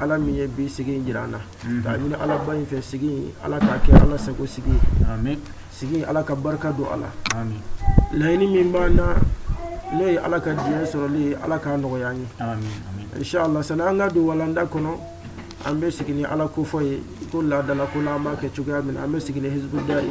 ala min ye bi sigi in jira an na mhm. k'a ɲini alaba in fɛ sigi in ala k'a kɛ ala sago sigi ye sigi in ala ka barika don a la laɲini min b'an na n'o ye ala ka diɲɛ sɔrɔli ye ala k'a nɔgɔya an ye inshallah sani an ka don walanda kɔnɔ an bɛ sigi ni ala kofɔ ye ko laada la ko la an b'a kɛ cogoya min na an bɛ sigi ni hizbudayi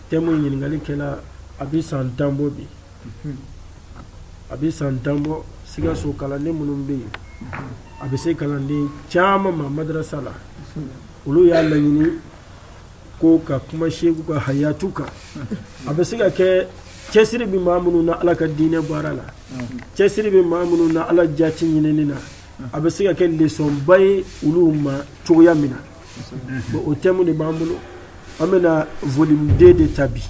thème in ɲininkali kɛra a bɛ san tan bɔ bi a bɛ san tan bɔ sikaso kalanden minnu bɛ yen a bɛ se kalanden caman ma madrasa la olu y'a laɲini ko ka kuma seku ka hayatu kan a bɛ se ka kɛ cɛsiri bɛ maa minnu na ala ka diinɛ baara la cɛsiri bɛ maa minnu na ala jati ɲinini na a bɛ se ka kɛ lesɔnba ye olu ma cogoya min na bon o thème de b'an bolo an bɛna volume 2 de ta bi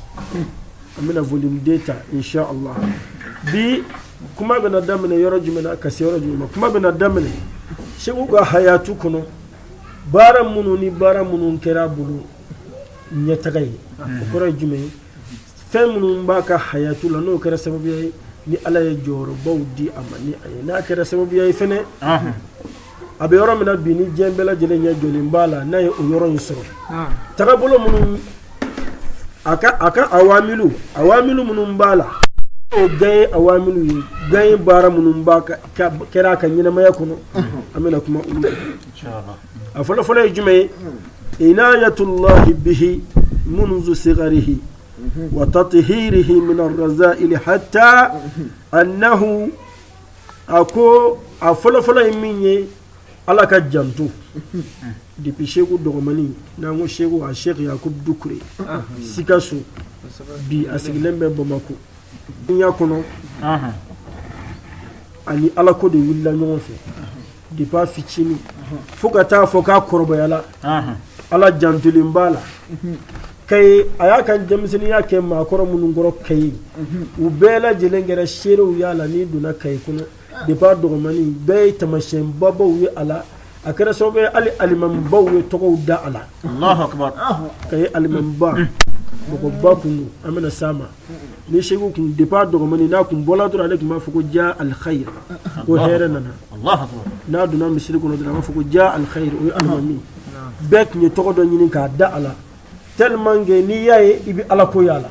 an bɛna volume 2 ta insha Allah bi kuma bɛna daminɛ yɔrɔ jumɛn na ka se yɔrɔ jumɛn ma kuma bɛna daminɛ seku ka hayatu kɔnɔ baara minnu ni baara minnu kɛra a bolo ɲɛtaga ye o kɔrɔ ye jumɛn ye fɛn minnu b'a ka hayatu la n'o kɛra sababuya ye ni ala ye jɔyɔrɔbaw di a ma ni a ye n'a kɛra sababuya ye fɛnɛ a bɛ yɔrɔ min na bi ni diɲɛ bɛɛ lajɛlen ɲɛ jɔlen b'a la n'a ye o yɔrɔ in sɔrɔ tagabolo minnu a ka a ka awamilu awamilu minnu b'a la o gaye awamilu ye gaye baara minnu b'a ka ka- kɛra a ka ɲɛnamaya kɔnɔ an bɛna kuma olu kan a fɔlɔ fɔlɔ ye jumɛn ye inayatullahi bihi munzu sigarihi wa tatihirihi min arrazaili hatta annahu a ko a fɔlɔfɔlɔ ye min ye ala ka janto depi seku dɔgɔmani n'an ko seku a seku yakuba dukure sikaso bi a sigilen bɛ bamakɔ dunya kɔnɔ a ni ala ko de wulila ɲɔgɔn fɛ depi a fitinin fo ka taa fɔ k'a kɔrɔbayala ala jantolen b'a la kayi a y'a ka denmisɛnninya kɛ maakɔrɔ minnu kɔrɔ kayi u bɛɛ lajɛlen kɛra seerew y'a la n'i donna kayi kɔnɔ depi a dɔgɔmani bɛɛ ye tamasiyɛn babaw ye a la a kɛra sababu ye hali alimamibaw ye tɔgɔw da a la kayi alimamiba mɔgɔba tun don an bɛna s'a ma ni seku tun depi a dɔgɔmani n'a tun bɔla dɔrɔn ale tun b'a fɔ ko ja alkhayr ko hɛrɛ nana n'a donna misiri kɔnɔ dɔrɔn a b'a fɔ ko ja alkhayr o ye alimami bɛɛ tun ye tɔgɔ dɔ ɲini k'a da a la tellement que n'i y'a ye i bɛ ala ko y'a la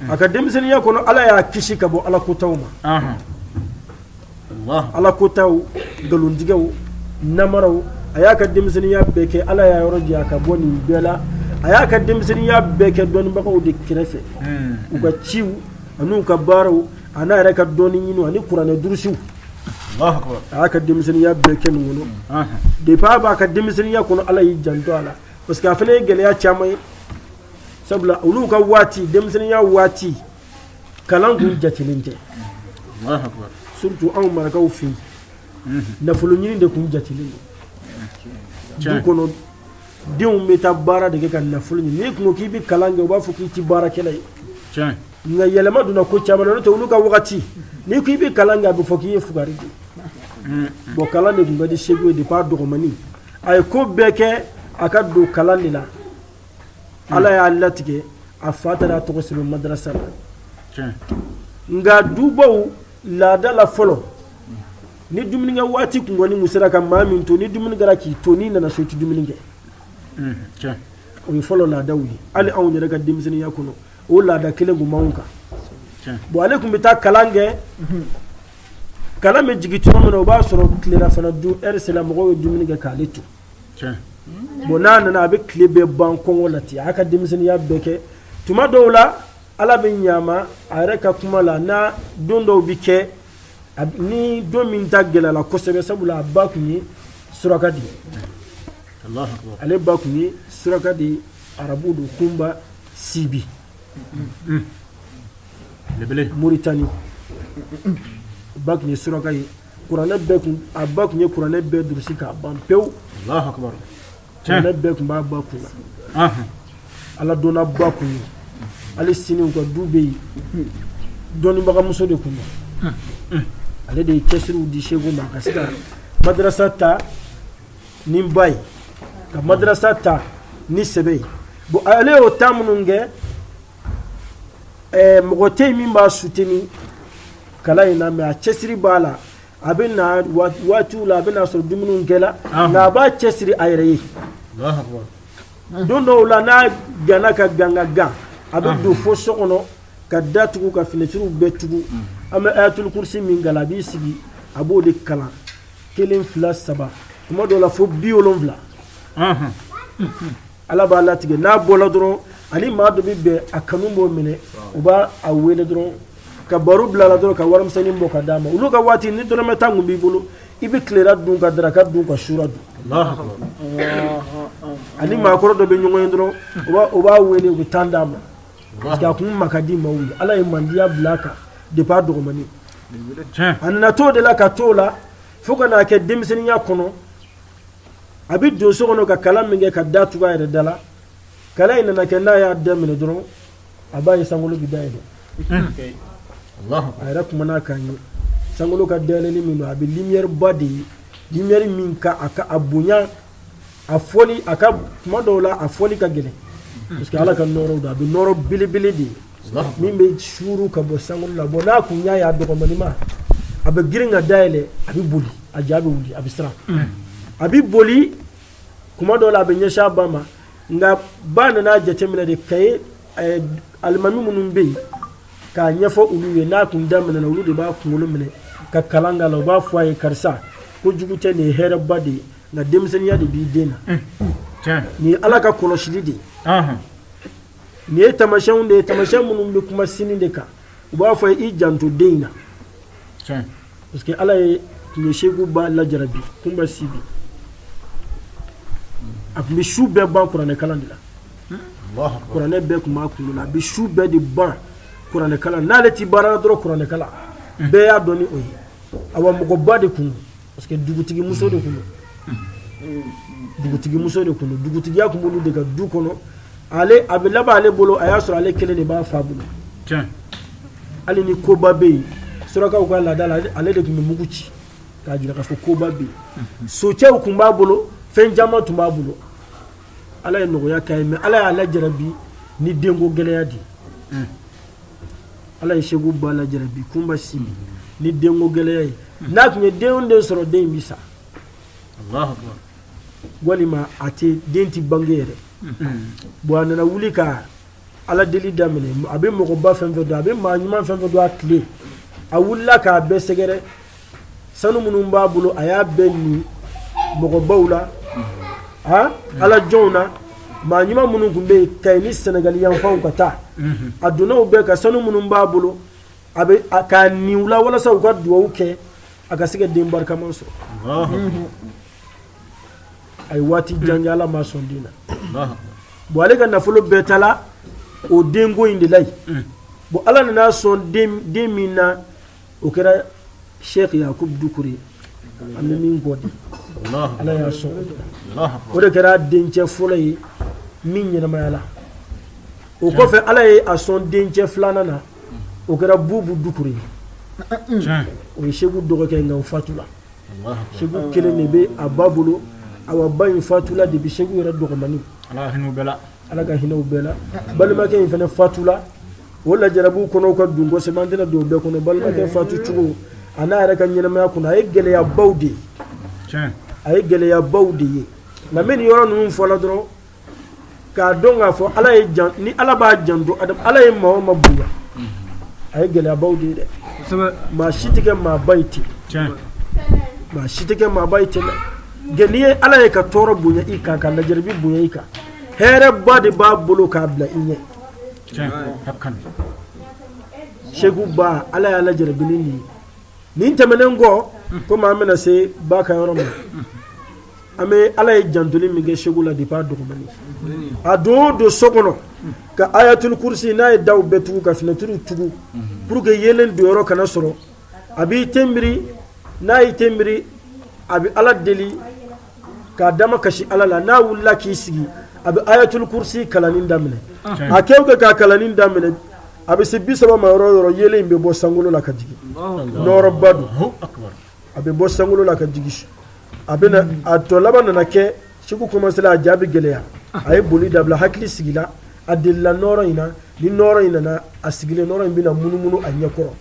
a ka denmisɛnninya kɔnɔ ala y'a kisi ka bɔ ala kɔntaw ma ala ko taa nkalontigɛ namara a y'a ka denmisɛnninya bɛɛ kɛ ala y'a yɔrɔ janya ka bɔ nin bɛɛ la a y'a ka denmisɛnninya bɛɛ kɛ dɔnnibagaw de kɛrɛfɛ u ka ciw ani ka baaraw ani a yɛrɛ ka dɔnni ɲini ani kuranɛ durusiw a y'a ka denmisɛnninya bɛɛ kɛ nin kɔnɔ de baba ka denmisɛnninya kɔnɔ ala y'i janto a la parce que a fana ye gɛlɛya caman ye sabula olu ka waati denmisɛnninya waati kalan kun jatelen tɛ surtout anw marakaw fɛ yen nafolo ɲini de kun jatelen don du kɔnɔ denw bɛ taa baara de kɛ ka nafolo ɲini n'i kun ko k'i bɛ kalan kɛ u b'a fɔ k'i tɛ baarakɛla ye nka yɛlɛma donna ko caman na n'o tɛ olu ka wagati n'i ko i bɛ kalan kɛ a bɛ fɔ k'i ye fugari de ye bon kalan de tun ka di seku ye depuis a dɔgɔmani a ye ko bɛɛ kɛ a ka don kalan de la ala y'a latigɛ a fa taara a tɔgɔ sɛbɛn madrasa la tiɲɛ nka dubaw laada la fɔlɔ ni dumunikɛ waati tun kɔni tun sera ka maa min to ni dumuni kɛra k'i to n'i nana so i tɛ dumuni kɛ Mhm, tiɲɛ o ye fɔlɔ laadaw ye hali anw yɛrɛ ka denmisɛnninya kɔnɔ o laada kelen tun b'anw kan tiɲɛ bon ale tun bɛ taa kalan kɛ kalan bɛ jigin tuma min na o b'a sɔrɔ tilelafana dun lɛri sera mɔgɔw ye dumuni kɛ k'ale to bon n'a nana a bɛ tile bɛɛ ban kɔngɔ la ten a ka denmisɛnninya bɛɛ kɛ tuma dɔw la ala bɛ ɲama a yɛrɛ ka kuma la n don dɔw bɛ kɛ ni don min ta gɛlɛla kosɛbɛ sabula a ba tun ye suraka di ale ba tun ye suraka di arabu don kunba sibi moritani a ba tun ye suraka ye kuranɛ bɛɛ kun a ba tun ye kuranɛ bɛɛ durusi k'a ban pewu kuranɛ bɛɛ tun b'a ba kun na ala dɔnnaba kun ye hali sini u ka du bɛ yen dɔnnibagamuso de kun don ale de ye cɛsiriw di seku ma ka se ka madrasa ta ni ba ye ka madrasa ta ni sɛbɛ ye bon ale y'o taa minnu kɛ mɔgɔ tɛ yen min b'a soutenir kalan in na mais a cɛsiri b'a la a bɛ na waatiw la a bɛ na sɔrɔ dumuniw kɛla nka a b'a cɛsiri a yɛrɛ ye don dɔw la n'a ganna ka gan ka gan a bɛ don fo so kɔnɔ ka da tugu ka finɛtiriw bɛɛ tugu an bɛ ayatul kursi min kalan a b'i sigi a b'o de kalan kelen fila saba tuma dɔw la fo biwolonwula Ala b'a latigɛ n'a bɔla dɔrɔn a ni maa dɔ bɛ bɛn a kanu b'o minɛ u b'a a wele dɔrɔn ka baro bil'a la dɔrɔn ka warimisɛnnin bɔ k'a d'a ma olu ka waati ni dɔrɔmɛ tan tun b'i bolo i bɛ tilera dun ka daraka dun ka sura dun a ni maakɔrɔ dɔ bɛ ɲɔgɔn ye dɔrɔn u b'a- u b'a wele u bɛ tan d'a ma parce que a kun ma ka di maaw ye Ala ye mandiya bila a kan depuis a dɔgɔmani a nana t'o de la ka t'o la fo ka n'a kɛ denmisɛnninya kɔnɔ a bɛ don so kɔnɔ ka kalan min kɛ ka da tugu a yɛrɛ da la kalan in nana kɛ n'a y'a daminɛ dɔrɔn a b'a ye sankolo bɛ dayɛlɛ a yɛrɛ kumakan ye sankolo ka dayɛlɛli min don a bɛ limiyɛriba de ye limiyɛri min ka a ka a bonya a fɔli a ka kuma dɔw la a fɔli ka gɛlɛn parce que ala ka nɔɔrɔ don a bɛ nɔɔrɔ belebele de ye min bɛ suuru ka bɔ san la bon n'a kun y'a y'a dɔgɔninma a bɛ girin ka da yɛlɛ a bɛ boli a ja bɛ wuli a bɛ siran a bɛ boli kuma dɔ la a bɛ ɲɛsin a ba ma nk'a ba nana jateminɛ de ka ye alimami minnu bɛ yen k'a ɲɛfɔ olu ye n'a tun daminɛ olu de b'a kunkolo minɛ ka kalan k'a la u b'a fɔ a ye karisa ko jugu tɛ nin ye hɛrɛba de ye nka denmisɛnninya de b'i den na nin ye ala ka kɔlɔsili de ye nin ye tamasiyɛnw de ye tamasiyɛn minnu bɛ kuma sini de kan u b'a fɔ i janto den in na parce que ala ye tun ye segu ba lajarabi kun bɛ si bi a tun bɛ su bɛɛ ban kuranɛkalan de la kuranɛ bɛɛ tun b'a kunkolo la a bɛ su bɛɛ de ban kuranɛkalan n'ale tɛ baara la dɔrɔn kuranɛkalan bɛɛ y'a dɔn ni o ye awa mɔgɔba de kun parce que dugutigi muso de kun don dugutigi muso de kun don dugutigiya kun b'olu de ka du kɔnɔ ale a bɛ laban ale bolo a y'a sɔrɔ ale kelen de b'a fa bolo hali ni koba bɛ yen surakaw ka laada la ale de tun bɛ mugu ci k'a jira k'a fɔ koba bɛ yen socɛw tun b'a bolo fɛn caman tun b'a bolo ala ye nɔgɔya k'a ye mais ala y'a lajarabi ni denko gɛlɛya de ye ala ye segu ba lajarabi kunba si ni denko gɛlɛya ye n'a tun ye den o den sɔrɔ den in bi sa walima a tɛ den tɛ bange yɛrɛ bon a nana wuli ka ala deli daminɛ a bɛ mɔgɔba fɛn fɛn dɔn a bɛ maa ɲuman fɛn fɛn dɔn a tile a wulila k'a bɛɛ sɛgɛrɛ sanu minnu b'a bolo a y'a bɛɛ ni mɔgɔbaw la a ala jɔnw na maa ɲuman minnu tun bɛ yen k'a ɲini senegali yanfanw ka taa a dɔnnaw bɛɛ ka sanu minnu b'a bolo a bɛ k'a ni u la walasa u ka dugawu kɛ a ka se ka den barikaman sɔrɔ a ye waati jan kɛ ala ma sɔn den na bon ale ka nafolo bɛɛ taala o denko in de la yen bon ala nana sɔn den min na o kɛra sheikh yakub dukure an bɛ min kɔ di ala y'a sɔn o de kɛra dencɛ fɔlɔ ye min ɲɛnamayala o kɔfɛ ala ye a sɔn dencɛ filanan na o kɛra bubu dukure ye o ye seku dɔgɔkɛ nka o fatula seku kelen de bɛ a ba bolo awa ba in fatula depuis seku yɛrɛ dɔgɔmani ala ka hinɛ u bɛɛ la balimakɛ in fana fatula o lajarabiw kɔnɔw ka dun kosɛbɛ an tɛna don bɛɛ kɔnɔ balimakɛ fatu cogo a n'a yɛrɛ ka ɲɛnamaya kɔnɔ a ye gɛlɛyabaw de ye a ye gɛlɛyabaw de ye nka min ni yɔrɔ ninnu fɔla dɔrɔn k'a dɔn k'a fɔ ala ye jan ni ala b'a janto ala ye maa min bonya a ye gɛlɛyabaw de ye dɛ maa si tɛ kɛ maaba ye ten maa si tɛ kɛ maaba ye ten dɛ nka n'i ye ala ye ka tɔɔrɔ bonya i kan ka lajarabi bonya i kan hɛrɛba de b'a bolo k'a bila i ɲɛ seku ba ala y'a lajarabi ni nin ye nin tɛmɛnen kɔ komi an bɛna se ba ka yɔrɔ ma an bɛ ala ye jantoli min kɛ seku la depuis a dɔgɔmani a don o don so kɔnɔ ka ayatuli kurusi n'a ye daw bɛɛ tugu ka finɛtiriw tugu pour que yeelen don yɔrɔ kana sɔrɔ a b'i tenbiri n'a y'i tenbiri a bɛ ala deli ka damakasi ala la n'a wulila k'i sigi a bɛ ayatuli kurusi kalanni daminɛ a kɛ kɛ k'a kalanni daminɛ a bɛ se bi saba ma yɔrɔ yɔrɔ yeelen in bɛ bɔ sankolo la ka jigin nɔɔrɔba don a bɛ bɔ sankolo la ka jigin a bɛ a tɔ laban nana kɛ seku commencela a ja bɛ gɛlɛya a ye boli dabila hakili sigila a delila nɔɔrɔ in na ni nɔɔrɔ in nana a sigilen nɔɔrɔ in bɛna munumunu a ɲɛkɔrɔ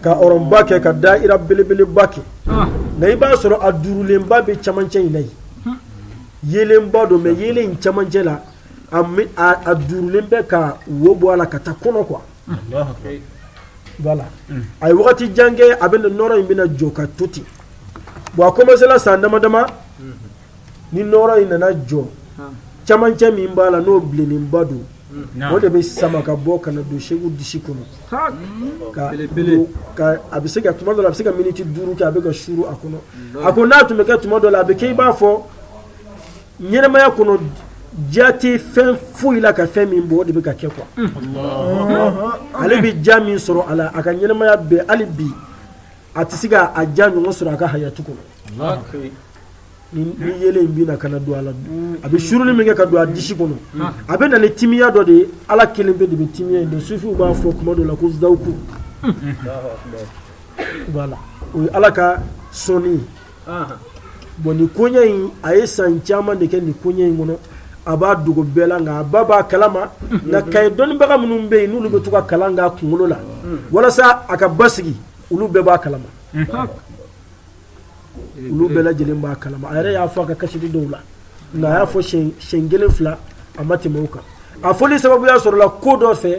ka ɔrɔnba kɛ ka daira belebeleba kɛ nka i b'a sɔrɔ a duurulenba bɛ camancɛ in na yen yeelenba don mais yeelen in camancɛ la a duurulen bɛ ka wo bɔ a la ka taa kɔnɔ quoi a ye waati jan kɛ a bɛ nɔɔrɔ in bɛna jɔ ka to ten bon a commencela san dama dama ni nɔɔrɔ in nana jɔ camancɛ min b'a la n'o bilenninba don o de bɛ sama ka bɔ ka na don Seku disi kɔnɔ ka ka a bɛ se ka tuma dɔ la a bɛ se ka miniti duuru kɛ a bɛ ka suru a kɔnɔ a ko n'a tun bɛ kɛ tuma dɔ la a bɛ kɛ i b'a fɔ ɲɛnamaya kɔnɔ diya tɛ fɛn foyi la ka fɛn min bɔ o de bɛ ka kɛ quoi ale bɛ diya min sɔrɔ a la a ka ɲɛnamaya bɛɛ hali bi a tɛ se ka a diya ɲɔgɔn sɔrɔ a ka hayatu kɔnɔ ni ni yeelen in bɛ na ka na don a la a bɛ suruni min kɛ ka don a disi kɔnɔ a bɛ na ni timiya dɔ de ye ala kelenpe de bɛ timiya in dɔn sufiw b'a fɔ tuma dɔ la ko zawuku voilà o ye ala ka sɔnni ye bɔn nin koɲɛ in a ye san caman de kɛ nin koɲɛ in kɔnɔ a b'a dogo bɛɛ la nka a ba b'a kalama nka kayi dɔnnibaga minnu bɛ yen n'olu bɛ to ka kalan k'a kunkolo la walasa a ka basigi olu bɛɛ b'a kalama olu bɛɛ lajɛlen b'a kalama a yɛrɛ y'a fɔ a ka kasidi dɔw la nka a y'a fɔ siɲɛ kelen fila a ma tɛmɛ o kan a fɔli sababuya sɔrɔla ko dɔ fɛ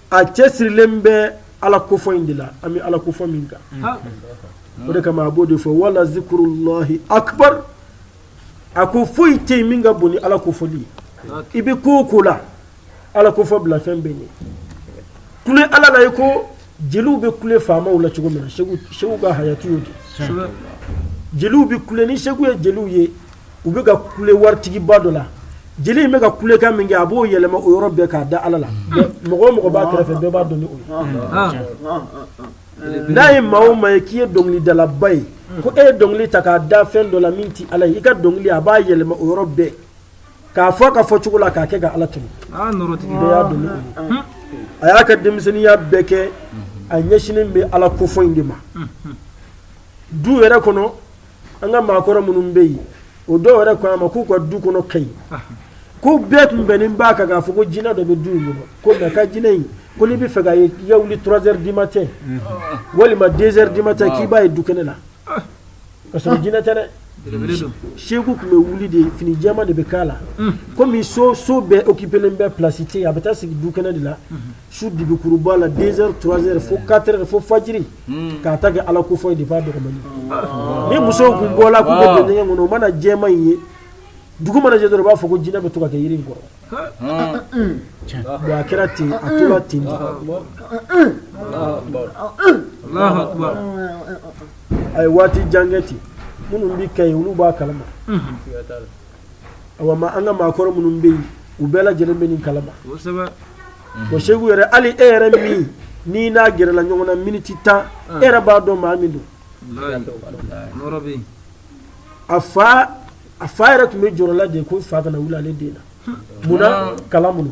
a cɛsirilen bɛ ala kofɔ in de la an bɛ ala kofɔ min kan o de kama a b'o de fɔ wala zikuru lahi akubar a ko foyi tɛ yen min ka bon ni ala kofɔli ye i bɛ ko o ko la ala kofɔ bila fɛn bɛɛ ɲɛ kule ala la iko jeliw bɛ kule faamaw la cogo min na seku seku ka hayatu y'o de ye jeliw bɛ kule ni seku ye jeliw ye u bɛ ka kule waritigiba dɔ la jeli in bɛ ka kulekan min kɛ a b'o yɛlɛma o yɔrɔ bɛɛ k'a da ala la mɔgɔ o mɔgɔ b'a kɛrɛfɛ bɛɛ b'a dɔn n'a ye maa min ye k'i ye dɔnkilidalaba ye ko e ye dɔnkili ta k'a da fɛn dɔ la min tɛ ala i ka dɔnkili a b'a yɛlɛma o yɔrɔ bɛɛ k'a fɔ i ka fɔcogo la k'a kɛ ka ala tɛmɛ y'a a y'a ka denmisɛnninya bɛɛ kɛ a ɲɛsin bɛ ala kofɔ in de ma du yɛrɛ kɔnɔ an ka maakɔrɔ minnu bɛ yen o dɔw yɛrɛ ko a ma k'u ka du kɔnɔ kayi ko bɛɛ tun bɛnnen b'a kan k'a fɔ ko jinɛ dɔ bɛ du in kɔnɔ ko nka ka jinɛ in ko n'i b'a fɛ k'a ye k'i ka wuli trois heures du matin walima deux heures du matin k'i b'a ye du kɛnɛ na k'a sɔrɔ jinɛ tɛ dɛ belebele don seku tun bɛ wuli de fini jɛman de b'a kan na komi so so bɛɛ occupelen bɛ place tɛ yen a bɛ taa sigi du kɛnɛ de la su dibikuruba la deux heures trois heures fo quatre heures fo fajiri k'a ta kɛ ala kofɔ ye depuis a dɔgɔmani mais musow tun bɔ la kɔnɔ o mana jɛman in ye dugu mana jɛ dɔrɔn u b'a fɔ ko jinɛ in bɛ to ka kɛ yiri kɔrɔ a kɛra ten a tora ten a ye waati jan kɛ ten minnu bɛ kayi olu b'a kalama awa ma an ka maakɔrɔ minnu bɛ yen u bɛɛ lajɛlen bɛ nin kalama o seku yɛrɛ hali e yɛrɛ min n'i n'a gɛrɛla ɲɔgɔn na miniti tan e yɛrɛ b'a dɔn maa min don a fa a fa yɛrɛ tun bɛ jɔrɔ la de ko fa kana wili ale den na munna k'a la mun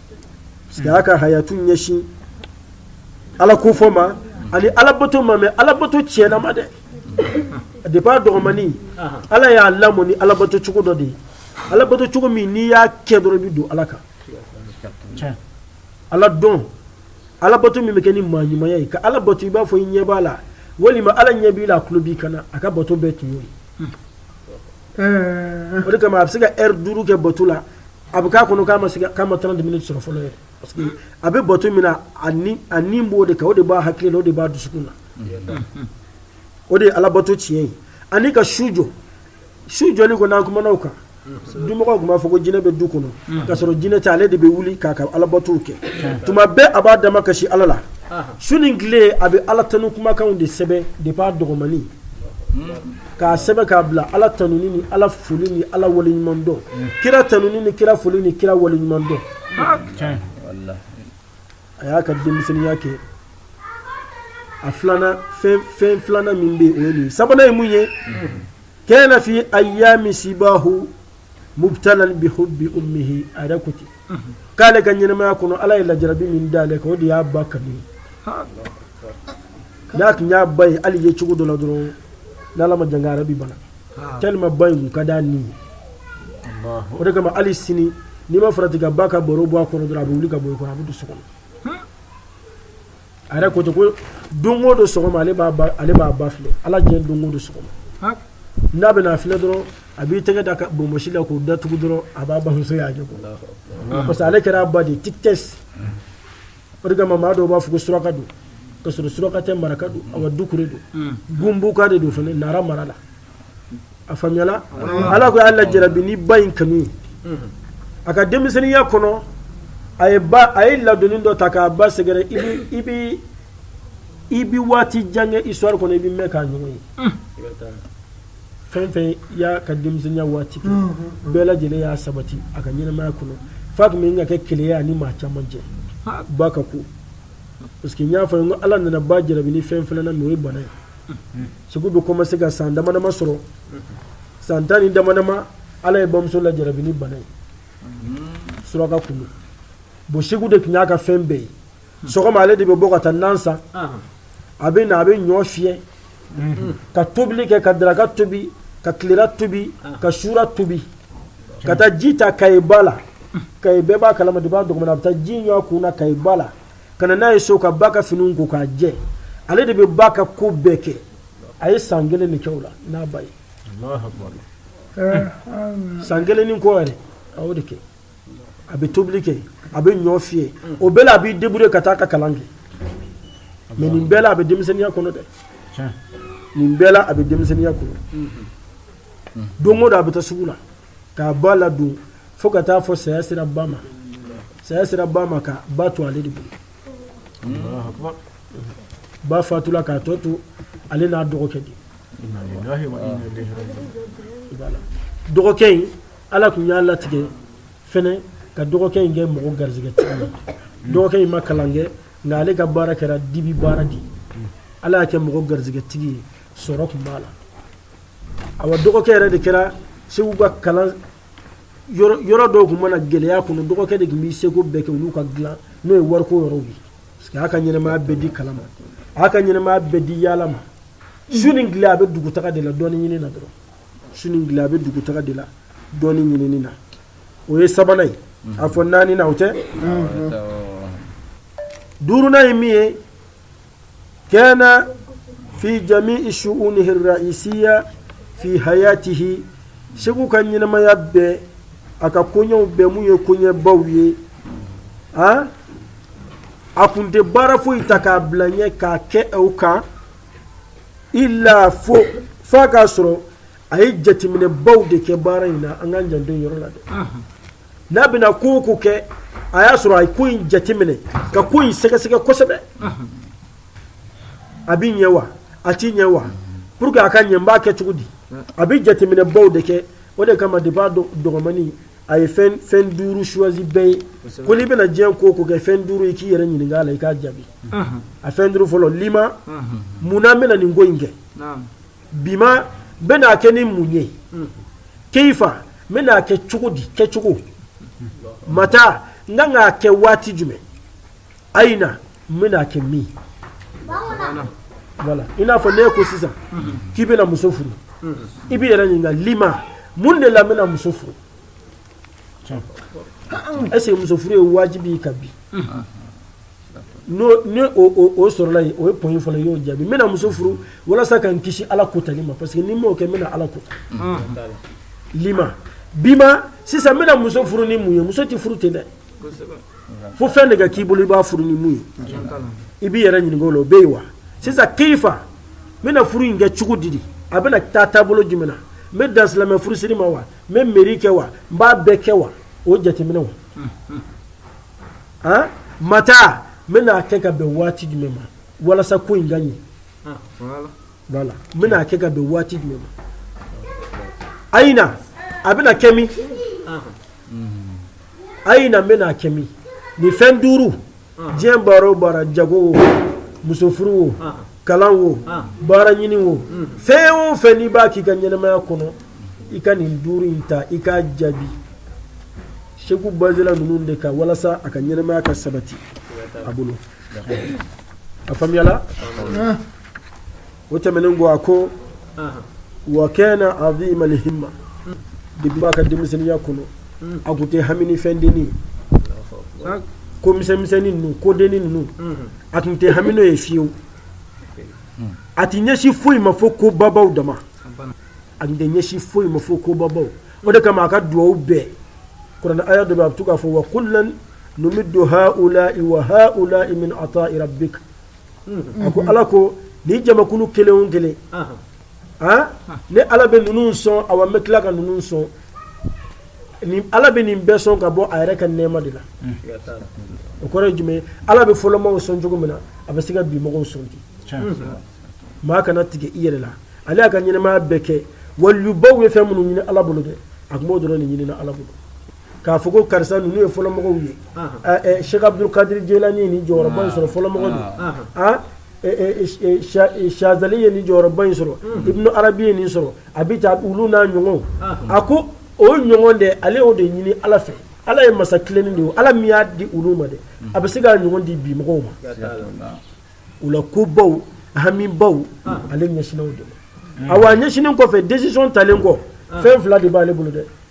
a ka hayatu ɲɛsin ala kofɔ ma ani alabato ma mais alabato tiɲɛnama dɛ depuis a dɔgɔmani ala y'a lamɔ ni alabato cogo dɔ de ye alabato cogo min n'i y'a kɛ dɔrɔn i bɛ don ala kan ala dɔn alabato min bɛ kɛ ni maa ɲumanya ye ka ala bato i b'a fɔ i ɲɛ b'a la walima ala ɲɛ b'i la a tulo b'i kan na a ka bato bɛɛ tun y'o ye o de kama a bɛ se ka ɛri duuru kɛ bato la a bɛ k'a kɔnɔ k'a ma se k'a ma 30 minutes sɔrɔ fɔlɔ yɛrɛ parce que a bɛ bato min na a ni a ni b'o de kan o de b'a hakili la o de b'a dusukun na o de ye alabato tiɲɛ ye ani ka su jɔ su jɔli kɔni an kumana o kan dumɔgɔw tun b'a fɔ ko jinɛ bɛ du kɔnɔ k'a sɔrɔ jinɛ tɛ ale de bɛ wuli k'a ka alabatow kɛ tuma bɛɛ a b'a dama kasi ala la su ni tile a bɛ ala tanu kumakanw de sɛbɛn depuis a dɔgɔmannin k'a sɛbɛn k'a bila ala tanuni ni ala foli ni ala wale ɲuman dɔn kira tanuni ni kira foli ni kira wale ɲuman dɔn a y'a ka denmisɛnninya kɛ a filanan fɛn filanan min bɛ o ye nin sabanan ye mun ye kana fi ayami sibahu mubtalan bi hubbi ummihi a yɛrɛ ko ten k'ale ka ɲɛnamaya kɔnɔ ala ye lajarabi min d'ale kan o de y'a ba kanu n'a tun y'a ba ye hali ye cogo dɔ la dɔrɔn n'ala m'a tanga ale bɛ bana tellement ba in ko ka d'a ye o de kama hali sini n'i ma farati ka ba ka baro bɔ a kɔrɔ dɔrɔn a bɛ wuli ka bɔ i kɔrɔ a bɛ don so kɔnɔ a yɛrɛ ko ten ko don o don sɔgɔma ale b'a ba ale b'a ba filɛ ala diɲɛ don o don sɔgɔma n'a bɛ n'a filɛ dɔrɔn a b'i tɛgɛ d'a ka bonbonsi la k'o datugu dɔrɔn a b'a bamuso y'a ɲɛ kɔrɔ parce que ale kɛra a ba de ye tikitɛsi o de kama maa dɔw b'a fɔ ko suraka don k'a sɔrɔ suraka tɛ maraka don awa dukure don gunbuka de don fana nara mara la a faamuyala ala kɔni y'a lajarabi ni ba in kanu ye a ka denmisɛnninya kɔnɔ a ye ba a ye ladonni dɔ ta k'a ba sɛgɛrɛ i bi i bi i bi waati jan kɛ histoire kɔnɔ i bi mɛn k'a ɲɔgɔn ye i fɛn fɛn i y'a ka denmisɛnninya waati kɛ bɛɛ lajɛlen y'a sabati a ka ɲɛnamaya kɔnɔ f'a tun bɛ ka kɛ keleya a ni maa caman cɛ ba ka ko parce que n y'a fɔ n ko ala nana ba jarabi ni fɛn fana na n'o ye bana ye seku bɛ commencer ka san damadama sɔrɔ san tan ni damadama ala ye bamuso lajarabi ni bana ye suraka tun don bon seku de tun y'a ka fɛn bɛɛ ye sɔgɔma ale de bɛ bɔ ka taa nan san a bɛ na a bɛ ɲɔ fiyɛ ka tobili kɛ ka daraka tobi ka tilera tobi ka sura tobi ka taa ji ta kaba la ka bɛɛ b'a kala ma dugu kɔnɔ a bɛ taa ji ɲun a kun na kaba la ka na n'a ye so ka ba ka fini ko k'a jɛ ale de bɛ ba ka ko bɛɛ kɛ a ye san kelen de k'a la n'a ba ye san kelen ni kɔ yɛrɛ a de kɛ a bɛ tobili kɛ a bɛ ɲɔ fiyɛ o bɛɛ la a b'i débrouiller ka taa a ka kalan kɛ mais nin bɛɛ la a bɛ denmisɛnninya kɔnɔ dɛ nin bɛɛ la a bɛ denmisɛnninya kɔnɔ don o don a bɛ taa sugu la k'a ba ladon fo ka taa fo saya sera ba ma saya sera ba ma ka ba to ale de bolo ba fatula k'a tɔ to ale n'a dɔgɔkɛ di dɔgɔkɛ in Ala tun y'a latigɛ fana ka dɔgɔkɛ in kɛ mɔgɔ garisɛgɛ dɔgɔkɛ in ma kalan kɛ nka ale ka baara kɛra dibi baara de ye ala y'a kɛ mɔgɔ garisɛgɛtigi ye sɔrɔ tun b'a la a wa dɔgɔkɛ yɛrɛ de kɛra seku ka kalan yɔrɔ dɔw tun mana gɛlɛya kɔnɔ dɔgɔkɛ de tun bɛ seko bɛɛ kɛ olu ka dila n'o ye wariko yɔrɔ ye parce que y'a ka ɲɛnamaya bɛɛ di kalan ma a y'a ka ɲɛnamaya bɛɛ di yaala ma su ni tile a bɛ dugu taga de la dɔnniya ɲinini na dɔrɔn su ni tile a bɛ dugutaga de la dɔnniya ɲinini na o ye sabanan ye a fɔ naaninan o tɛ duurunan ye min ye kana fi jami'i shu'unihi ra'isiyya fi hayatihi seku ka ɲɛnamaya bɛɛ a ka koɲɛw bɛɛ mun ye koɲɛbaw ye a a tun tɛ baara foyi ta k'a bila ɲɛ k'a kɛ o kan Illa fo fo a k'a sɔrɔ a ye jateminɛ baw de kɛ baara in na an k'an janto yɔrɔ la dɛ n'a bɛna ko o ko kɛ a y'a sɔrɔ a ye ko in jateminɛ ka ko in sɛgɛsɛgɛ kosɛbɛ a bɛ ɲɛ wa a tɛ ɲɛ wa pour que a ka ɲɛ n b'a kɛ cogo di a bɛ jateminɛ baw de kɛ o de kama de b'a dɔgɔmani a ye fɛn duuru choisi bɛɛ ye ko n'i bɛna diɲɛ ko o ko kɛ fɛn duuru i k'i yɛrɛ ɲininka a la i k'a jaabi a fɛn duuru fɔlɔ lima munna n bɛna nin ko in kɛ bima n bɛna a kɛ ni mun ye keyifa n bɛna a kɛ cogo di kɛcogo mata n ka k'a kɛ waati jumɛn ayina n bɛna a kɛ min voilà i n'a fɔ ne ko sisan k'i bɛna muso furu i b'i yɛrɛ ɲininka lima mun de la n bɛna muso furu est-ce que muso furu ye wajibi ye kabini o sɔrɔla yen o ye point fɔlɔ y'o jaabi n bɛna muso furu walasa ka n kisi ala ko tali ma parce que ni n m'o kɛ n bɛna ala ko lima bima sisan n bɛna muso furu ni mun ye muso tɛ furu ten dɛ fo fɛn de ka k'i bolo i b'a furu ni mun ye i b'i yɛrɛ ɲininka o la o bɛ yen wa sisan keyifa n bɛna furu in kɛ cogo di de a bɛna taa taabolo jumɛn na n bɛ dan silamɛ furusiri ma wa n bɛ meri kɛ wa n b'a bɛɛ kɛ wa o jateminɛ wa han mata n bɛna a kɛ ka bɛn waati jumɛn ma walasa ko in ka ɲɛ voilà n bɛna a kɛ ka bɛn waati jumɛn ma ayina a bɛna kɛ min ayina n bɛna a kɛ min nin fɛn duuru diɲɛ baara o baara jago wo muso furu wo kalan wo baara ɲini wo fɛn o fɛn n'i b'a k'i ka ɲɛnamaya kɔnɔ i ka nin duuru in ta i k'a jaabi seku bazela ninnu de kan walasa a ka ɲɛnamaya ka sabati a bolo a faamuyala o tɛmɛnen kɔ a ko wa kana azimal himmati b'a ka denmisɛnninya kɔnɔ a tun tɛ hami ni fɛn dennin ko misɛnmisɛnnin ninnu ko dennin ninnu a tun tɛ hami n'a ye fiyewu a tɛ ɲɛsin foyi ma fo ko babaw dama a tun tɛ ɲɛsin foyi ma fo ko babaw o de kama a ka dugawu bɛɛ kuranɛ aya dɔ a bɛ to k'a fɔ wa kullan numiddu haula wa haula min ata rabbi a ko ala ko ni jamakulu kelen kelen ne ala bɛ ninnu sɔn a wa n bɛ tila ka ninnu sɔn ala bɛ nin bɛɛ sɔn ka bɔ a yɛrɛ ka nɛma de la o kɔrɔ jumɛn ala bɛ fɔlɔmaaw sɔn cogo min na a bɛ se ka bi mɔgɔw sɔn ten maa kana tigɛ i yɛrɛ la ale y'a ka ɲɛnɛmaya bɛɛ kɛ waliyubaw ye fɛn minnu ɲini ala bolo dɛ a tun b'o dɔrɔn de ɲini ala bolo k'a fɔ ko karisa ninnu ye fɔlɔmɔgɔw ye siki abuduli kadiri jelani nin jɔyɔrɔba in sɔrɔ fɔlɔmɔgɔ sazali ye nin jɔyɔrɔba in sɔrɔ ibn arabi ye nin sɔrɔ a bɛ taa olu n'a ɲɔgɔn a ko o ɲɔgɔn de ale o de ɲini ala fɛ ala ye masa kelen de ye ala min y'a di olu ma dɛ a bɛ se k'a ɲɔgɔn di bi mɔgɔw ma u la kobaw hamibaw ale ɲɛsinw de a wa ɲɛsin kɔfɛ décision talen kɔ fɛn fila de b'aale bolo dɛ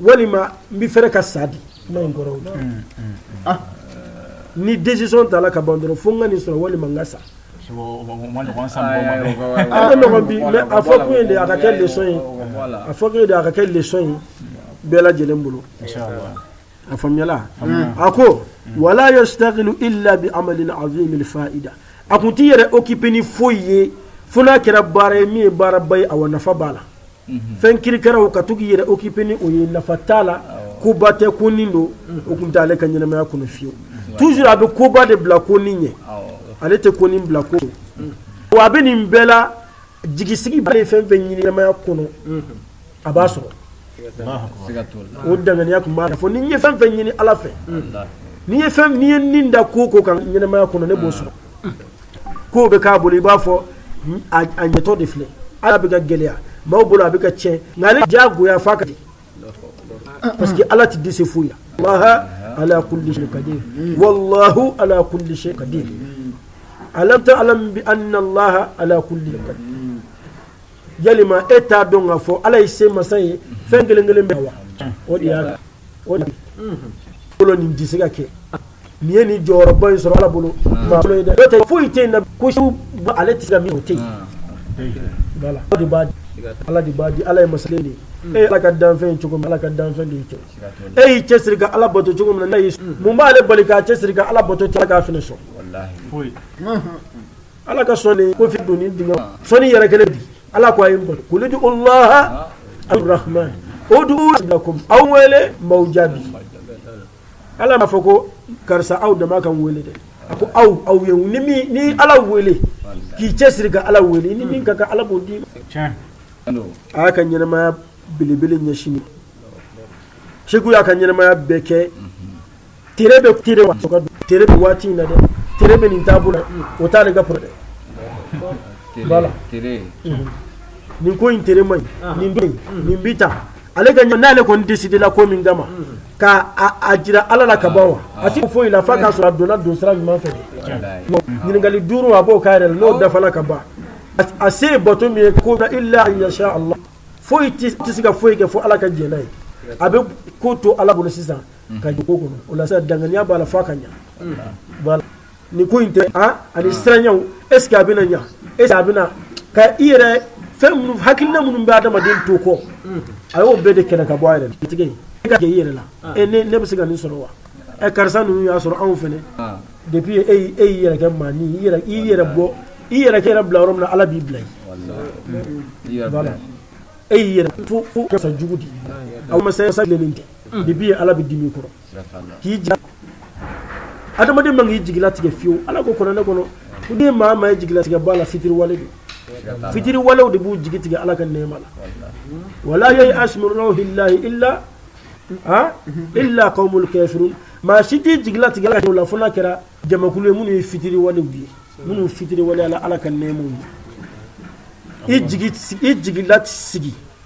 walima n bɛ fɛrɛ ka sa di kuma in kɔrɔ ni décision tala ka ban dɔrɔn fo ka nin sɔrɔ walima n ka sa a fɔ tun ye de a ka kɛlɛ ye a fɔ tun a ka kɛlɛ in bɛɛ lajɛlen bolo a faamuya a ko wa la yashtaghil illa bi amalin azimil faida a tun t'i yɛrɛ occupé ni foyi ye fo n'a kɛra baara ye min ye baaraba ye a wa nafa b'a la fɛn kirikɛla o ka to k'i yɛrɛ occupé ni o ye nafa t'a la koba tɛ konin don o tun t'ale ka ɲɛnamaya kɔnɔ fiyewu toujours a bɛ koba de bila konin ɲɛ ale tɛ konin bila ko a bɛ nin bɛɛ la jigi sigiba ye fɛn fɛn ɲɛnamaya kɔnɔ a b'a sɔrɔ o dannaya tun b'a fɔ ni n ye fɛn fɛn ɲini ala fɛ ni n ye fɛn ye nin da ko ko ka ɲɛnɛmaya kɔnɔ ne b'o sɔrɔ ko bɛ k'a bolo i b'a fɔ a ɲɛtɔ de filɛ ala bɛ ka gɛlɛya maaw bolo a bɛ ka tiɲɛ nka ale ja goya fa ka di parce que ala tɛ dɛsɛ foyi la ala kulli shay qadir wallahu ala kulli shay qadir alam ta'lam bi anna allah ala kulli qadir ya e t'a dɔn k'a fɔ ala ye se masa ye fɛn kelen kelen bɛɛ wa o de y'a bolo nin tɛ se ka kɛ nin ye nin jɔyɔrɔba in sɔrɔ ala bolo tɛ foyi tɛ na ko ale tɛ ka min o tɛ ala de b'a di ala ye masakɛ de e ye ala ka danfɛn cogo ala ka danfɛn de cɛ e y'i cɛsiri ka ala bato cogo min na mun b'ale bali k'a cɛsiri ka ala bato cɛ k'a fini sɔn ala ka sɔn nin ko fi don ni dingɛ sɔn ni yɛrɛ kelen bi ala ko a ye bolo kuli di olaha arahman o dugu lakum aw wele n b'aw jaabi ala b'a fɔ ko karisa aw dama ka wele dɛ a ko aw aw ye ni min ye ala wele k'i cɛ siri ka ala wele ni min ka ka ala b'o d'i ma a y'a ka ɲɛnɛmaya belebele ɲɛsin segu y'a ka ɲɛnɛmaya bɛɛ kɛ tɛ bɛn tɛ bɛn waati in na dɛ tɛ bɛn nin taabolo la o t'ale ka problème ye voilà nin ko in cɛ man ɲi nin bɛ yen nin bɛ tan ale ka n'ale kɔni décidé la ko min kama ka a jira Ala la ka ban wa a tɛ foyi la f'a k'a sɔrɔ a donna don sira ɲuman fɛ ɲininkali duuru a b'o k'a yɛrɛ la n'o dafala ka ban a se ye bato min ye ko illa an yasha Allah foyi tɛ se ka foyi kɛ fo Ala ka jɛn n'a ye a bɛ ko to Ala bolo sisan ka dugu kɔnɔ o la danganiya b'a la fo ka ɲɛ ni ko in tɛ ani siranw e sigi a bɛna ɲɛ e a bɛna ka i yɛrɛ fɛn minnu hakilina minnu bɛ adamaden to kɔ a y'o bɛɛ de kɛlɛ ka bɔ a yɛrɛ tigɛ e ka kɛ i yɛrɛ la ne bɛ se ka nin sɔrɔ wa ɛ karisa ninnu y'a sɔrɔ anw fana de bi e e y'i yɛrɛ kɛ maa ni i yɛrɛ bɔ i yɛrɛ kɛ yɛrɛ bila yɔrɔ min na ala b'i bila e y'i yɛrɛ fo fo jugu di aw ma sa sa tɛ de bi ala bɛ dimi i kɔrɔ k'i ja adamaden man kan k'i jigi latigɛ fiyewu ala ko kuranɛ kɔnɔ den maa ma y'i jigi latigɛ ala la fitiriwale de fitiriwalew de b'u jigi tigɛ ala ka nɛma la wala yayasu la hla aa illal kafirun maa si t'i jigi latigɛ ala la fo kɛra jamakulu ye minnu ye fitiriwale ye minnu fitiriwale ala ala ka nɛma ye i jigi lasigi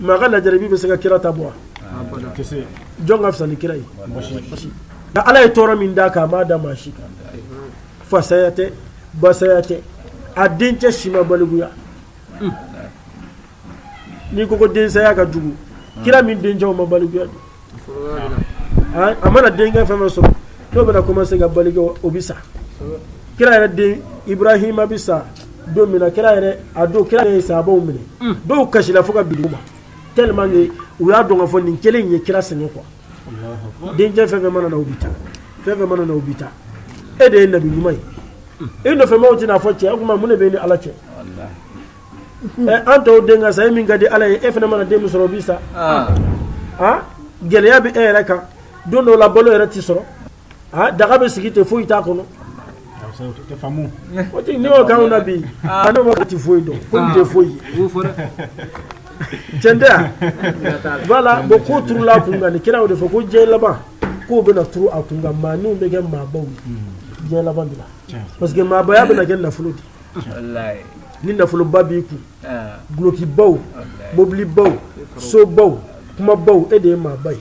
maa ka lajarabi bɛ se ka kira ta bɔ jɔn ka fisa ni kira ye nka ala ye tɔɔrɔ min d'a kan a m'a da maa si kan fa saya tɛ ba saya tɛ a dencɛ si ma balikuya n'i ko ko den saya ka jugu kira min dencɛw ma balikuya a mana denkɛ fɛn fɛn sɔrɔ n'o bɛna commencer ka balikuya o bɛ sa kira yɛrɛ den Ibrahima bɛ sa don min na kira yɛrɛ a don kira yɛrɛ ye sahabaw minɛ dɔw kasira fo ka bin duguma tellement que u y'a dɔn k'a fɔ nin kelen in ye kira sɛgɛn quoi denkɛ fɛn fɛn mana na o bɛ taa fɛn fɛn mana na o bɛ taa e de ye nabi ɲuman ye i nɔfɛmɔgɔw tɛn'a fɔ cɛ o tuma mun de bɛ i ni Ala cɛ an tɔw den ka sa e min ka di ala ye e fana mana den min sɔrɔ o bi sa gɛlɛya bɛ e yɛrɛ kan don dɔw la balo yɛrɛ tɛ sɔrɔ daga bɛ sigi ten foyi t'a kɔnɔ ne y'o kan na bi ne ma tɛ foyi dɔn ko nin tɛ foyi cɛn tɛ yan voilà bon ko turula kun kan nin kira y'o de fɔ ko diɲɛ laban ko bɛna turu a kun kan maaninw bɛ kɛ maabaw ye diɲɛ laban de la parce que maabaya bɛna kɛ nafolo de ye ni nafoloba b'i kun dulɔkibaw mobilibaw sobaw kumabaw e de ye maaba ye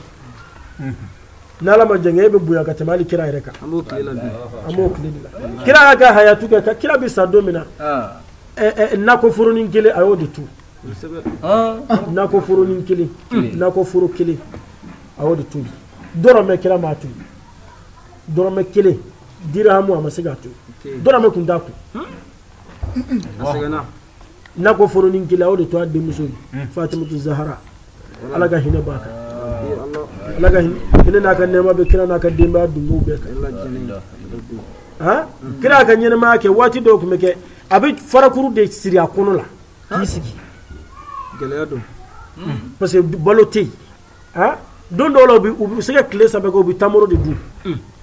ni ala ma jan e bɛ bonya ka tɛmɛ kira yɛrɛ kan bon kira y'a ka hayatu kɛ ka kira bɛ sa don min na nakɔforonin kelen a y'o de tu nakɔforonin kelen nakɔforo kelen a y'o de tu dɔrɔmɛ kira m'a tu dɔrɔmɛ kelen kira a ma se k'a to dɔrɔmɛ tun t'a kun nakɔforonin kelen a y'o de to a denmuso ye hmm. fatimatu zahara ala ka hinɛ b'a kan ala ka hinɛ n'a ka nɛɛma bɛ kira n'a ka denbaya dunbow bɛɛ kan han hmm. kira ka ɲɛnɛmaya kɛ waati dɔw tun bɛ kɛ a bɛ farakuru de siri a kɔnɔ la k'i sigi gɛlɛya don hmm. parce que balo tɛ yen don dɔw la u bɛ se ka tile saba u bɛ tamuru de dun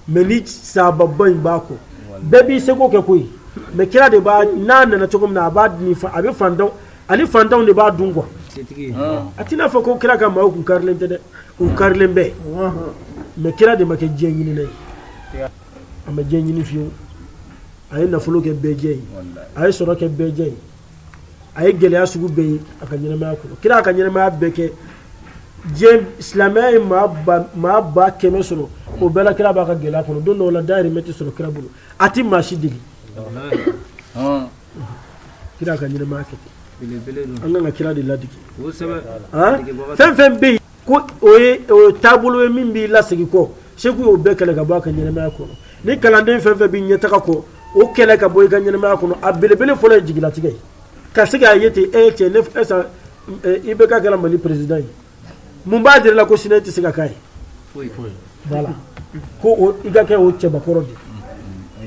mais ni sahaba in b'a kɔ bɛɛ b'i seko kɛ koyi mais kira de b'a n'a nana cogo min na a b'a a bɛ fan ani fantanw de b'a dun kuwa a t'a fɔ ko kira ka maa kun karilen tɛ dɛ u karilen bɛ mais kira de ma kɛ diɲɛ ɲinin ye a ma diɲɛ ɲinin fewu a ye nafolo kɛ bɛɛjɛ ye a ye sɔrɔ kɛ bɛɛjɛ ye a ye gɛlɛya sugu bɛɛ ye a ka ɲɛnamaya kɔnɔ kira y'a ka ɲɛnamaya bɛɛ kɛ diinɛ silamɛya ye maa ba kɛmɛ sɔrɔ o bɛɛ la kira b'a ka gɛlɛya kɔnɔ don dɔw la dayirimɛ tɛ sɔrɔ kira bolo a tɛ maa si deli kira y'a ka ɲɛnamaya kɛ ten an kan ka kira de ladege fɛn fɛn bɛ yen Ko o ye taabolo ye min b'i la segin kɔ segu y'o bɛɛ kɛlɛ ka bɔ a ka ɲɛnamaya kɔnɔ ni kalanden fɛn fɛn bɛ ɲɛtaga kɔ o kɛlɛ ka bɔ i ka ɲɛnamaya kɔnɔ a belebele fɔlɔ ye jigilatigɛ ye ka se k'a ye ten e cɛ ni IBK kɛra mali perezidan ye mun b'a jira i la ko sini i tɛ se ka kɛ a ye ko i ka kɛ o cɛbakɔrɔ de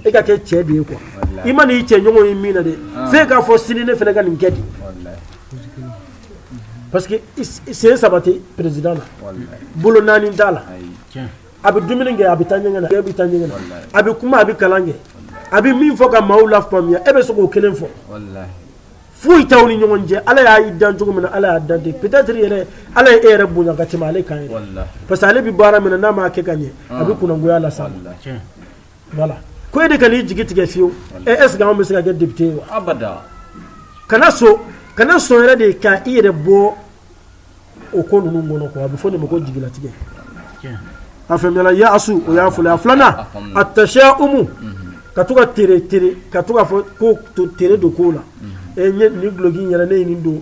e ka kɛ cɛ de ye kuwa i man'i cɛ ɲɔgɔn ye min na dɛ se k'a fɔ sini ne fana ka nin kɛ di parce que sen saba tɛ perezidan na bolo naani t'a la a bɛ dumuni kɛ a bɛ taa ɲɛgɛn e bɛ taa ɲɛgɛn na a bɛ kuma a bɛ kalan kɛ a bɛ min fɔ ka maaw lafaamuya e bɛ se k'o kelen fɔ foyi t'aw ni ɲɔgɔn cɛ ala y'a dan cogo min na ala y'a dan ten peut-être yɛrɛ ala ye e yɛrɛ bonya ka tɛmɛ ale kan yɛrɛ parce que ale bɛ baara min na n'a m'a kɛ ka ɲɛ a bɛ kunnagoya las'a ma ko e de kan'i jigi tigɛ fiyewu e bɛ se ka kɛ député ye kana sɔn kana sɔn yɛrɛ de ka i yɛrɛ bɔ o ko ninnu kɔnɔ quoi a bɛ fɔ o de ma ko jigilatigɛ a fɛla yasu o y'a fɔlɔ a filanan atashaumu ka to ka ka to fɔ ko to tere don ko la e nin duloki yɛrɛ ne nin don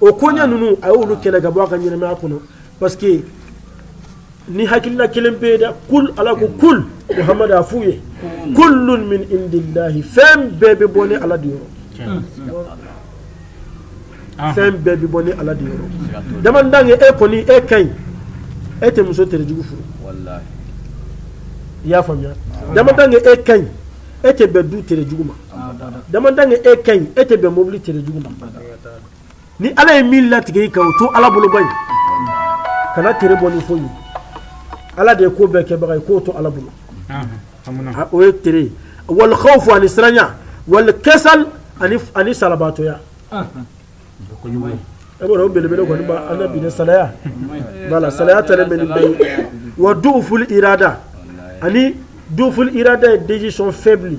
o koɲɛ ninnu a y'olu kɛlɛ ka bɔ a ka ɲɛnamaya kɔnɔ parce que ni hakilila kelen bɛ yen dɛ kul ala ko kul muhamadu a f'u ye kullun min indillahi fɛn bɛɛ bɛ bɔ ni ala de yɔrɔ fɛn bɛɛ bɛ bɔ ni ala de yɔrɔ du moment que e kɔni e ka ɲi e tɛ muso terejugu furu i y'a faamuya du moment que e ka ɲi e tɛ bɛn du terejugu ma du moment que e ka ɲi e tɛ bɛn mobili terejugu ma ni ala ye min latigɛ i ka o to ala bolo i kana tere bɔ ni fɔ ye ala de ye ko bɛɛ kɛbaga ye k'o to ala bolo o ye t ye wal khawfu ani siranya wal kasali ani salabaatɔya e b'a belebele kɔni an ka bi saya wala saya tɛ bɛ bɛ ye wa duful irada ani duful irada ye décision faible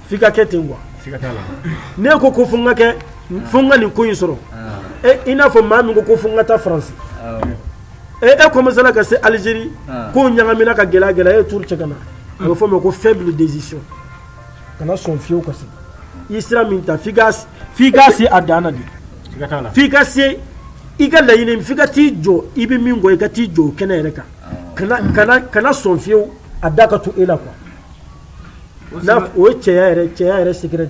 F'i ka kɛ ten quoi siga t'a la n'e ko ko fo n ka kɛ fo n ka nin ko in sɔrɔ i n'a fɔ maa min ko ko fo n ka taa France e e commencé la ka se Algérie kow ɲagamina ka gɛlɛya gɛlɛya e tourner ka na a bɛ fɔ o ma ko faible décision kana sɔn fiyewu ka se i ye sira min ta f'i ka f'i ka se a dan na de siga t'a la f'i ka se i ka laɲini f'i ka t'i jɔ i bɛ min kɔ i ka t'i jɔ o kɛnɛ yɛrɛ kan kana kana kana sɔn fiyewu a da ka to e la quoi N'a o cɛ yɛrɛ cɛ yɛrɛ seg de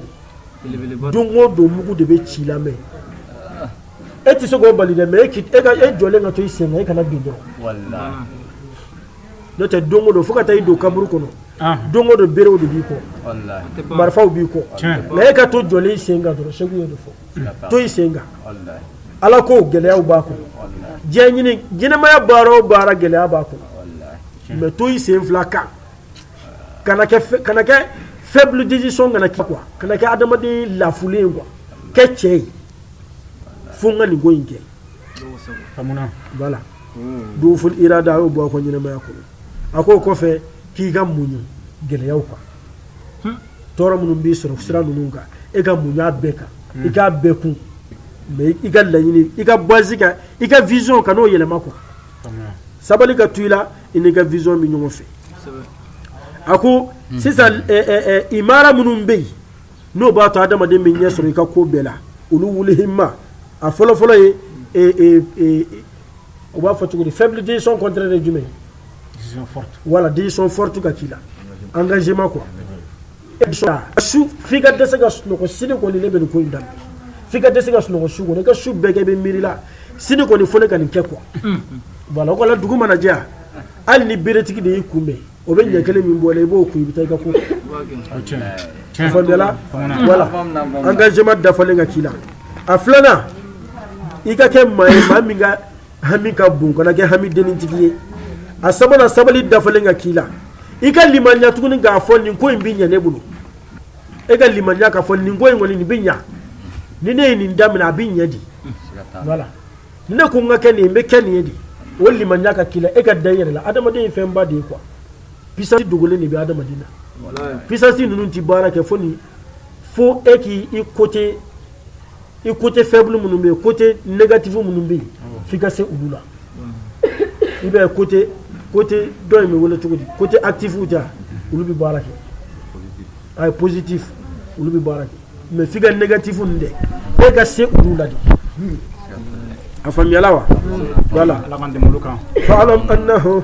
don o don mugu de bɛ ci i lamini e tɛ se k'o bali mais e e jɔlen ka to i sen e kana bin dɔrɔn n'o tɛ don don fo ka taa i don kaburu kɔnɔ don don bereerew de b'i kɔ marifaw b'i kɔ mais e ka to jɔlen i sen dɔrɔn segu ye de fɔ to i sen ala ko gɛlɛya b'a kɔnɔ diɲɛ ɲɛnamaya baara o baara gɛlɛya b'a kɔnɔ mais to i sen fila kan kana kɛ kana kɛ faible décision kana kɛ quoi kana kɛ adamaden lafulen ye quoi kɛ cɛ ye fo n ka nin ko in kɛ famuna voilà duful irada a y'o bɔ a ka ɲɛnamaya kɔnɔ a k'o kɔfɛ k'i ka muɲu gɛlɛyaw kan tɔɔrɔ minnu b'i sɔrɔ sira ninnu kan e ka muɲu a bɛɛ kan i k'a bɛɛ kun mais i ka laɲini i ka base kan i ka vision kan'o yɛlɛma quoi famuna sabali ka to i la i n'i ka vision bɛ ɲɔgɔn fɛ a ko sisan imara minnu bɛ yen n'o b'a to adamaden bɛ ɲɛ sɔrɔ i ka ko bɛɛ la uluwul himma a fɔlɔfɔlɔ ye u b'a fɔ cogo di fɛn décision kɔnte de jumɛn wala décision forte ka k'i la engagement quoi e bɛ sɔrɔ a su f'i ka dɛsɛ ka sunɔgɔ sini kɔni ne bɛ nin ko in daminɛ f'i ka dɛsɛ ka sunɔgɔ su kɔni i ka su bɛɛ kɛ i bɛ miiri la sini kɔni fo ne ka nin kɛ quoi voilà o kɔni dugu mana jɛ hali ni beretigi de y'i kunbɛn o bɛ ɲɛ kelen min bɔ la i b'o kun i bɛ taa i ka ko kɛ faamuyala voilà engagement dafalen ka k'i la a filanan i ka kɛ maa ye maa min ka hami ka bon kana kɛ hami denintigi ye a sabanan sabali dafalen ka k'i la i ka limaniya tuguni k'a fɔ nin ko in bɛ ɲɛ ne bolo e ka limaniya k'a fɔ nin ko in kɔni nin bɛ ɲa ni ne ye nin daminɛ a bɛ ɲɛ dɛ wala ni ne ko n ka kɛ nin ye n bɛ kɛ nin ye dɛ o limaniya ka k'i la e ka da i yɛrɛ la adamaden ye fɛnba de ye quoi puissance dogolen de bɛ adamaden na puissance ninnu tɛ baara kɛ fo ni fo e k'i i côté i côté faible minnu bɛ yen côté négatif minnu bɛ yen f'i ka se olu la i b'a ye côté côté dɔ in bɛ wele cogo di côté actif ja olu bɛ baara kɛ ayi positif olu bɛ baara kɛ mais f'i ka négatif ninnu dɛ e ka se olu la dɛ a faamuyala wa voilà fa'alam annahu